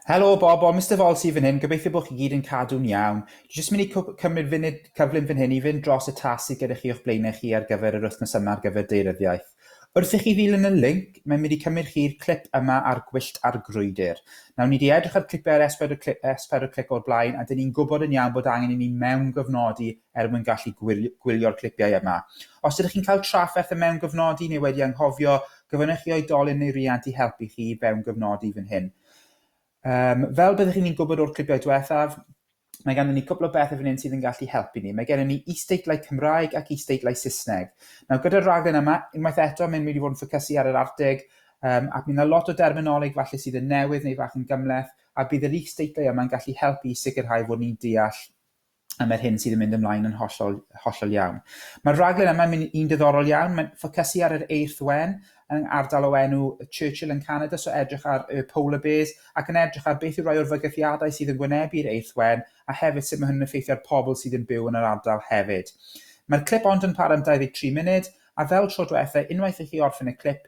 Helo Bob, o Mister Vol sydd fan hyn, gobeithio bod chi gyd yn cadw'n iawn. Dwi jyst mynd i cymryd funud cyflym fan hyn i fynd dros y tas sydd gyda chi o'ch blaenau chi ar gyfer yr wythnos yma ar gyfer deiryddiaeth. Wrth i chi ddilyn y linc, mae'n mynd i cymryd chi'r clip yma ar gwyllt ar grwydr. Nawr, ni di edrych ar clipau ar S4 clip, S4 clip o'r blaen, a dyn ni'n gwybod yn iawn bod angen i ni mewn gofnodi er mwyn gallu gwylio'r clipiau yma. Os ydych chi'n cael trafferth y mewn gofnodi neu wedi anghofio, Gofynnech chi oedolyn neu riant i helpu chi i fewn gyfnodi fan hyn. Um, fel byddwch chi'n gwybod o'r clipiau diwethaf, mae ganddyn ni cwpl o bethau fan hyn sydd yn gallu helpu ni. Mae gennym ni isteitlau Cymraeg ac isteitlau Saesneg. Nawr, gyda'r raglen yma, unwaith eto, mae'n mynd i fod yn ffocysu ar yr arteg, um, ac mae yna lot o derminoleg falle sydd yn newydd neu fach yn gymleth, a bydd yr isteitlau yma'n gallu helpu i sicrhau fod ni'n deall a mae'r hyn sydd yn mynd ymlaen yn hollol, hollol iawn. Mae'r rhaglen yma'n mynd i'n diddorol iawn, mae'n ffocysu ar yr eirth wen yn ardal o enw Churchill yn Canada, so edrych ar y polar bears ac yn edrych ar beth yw rai o'r fygythiadau sydd yn wynebu'r eirth wen a hefyd sut mae hyn yn effeithio ar pobl sydd yn byw yn yr ardal hefyd. Mae'r clip ond yn para am 23 munud, a fel tro diwetha, unwaith i chi orffen y clip,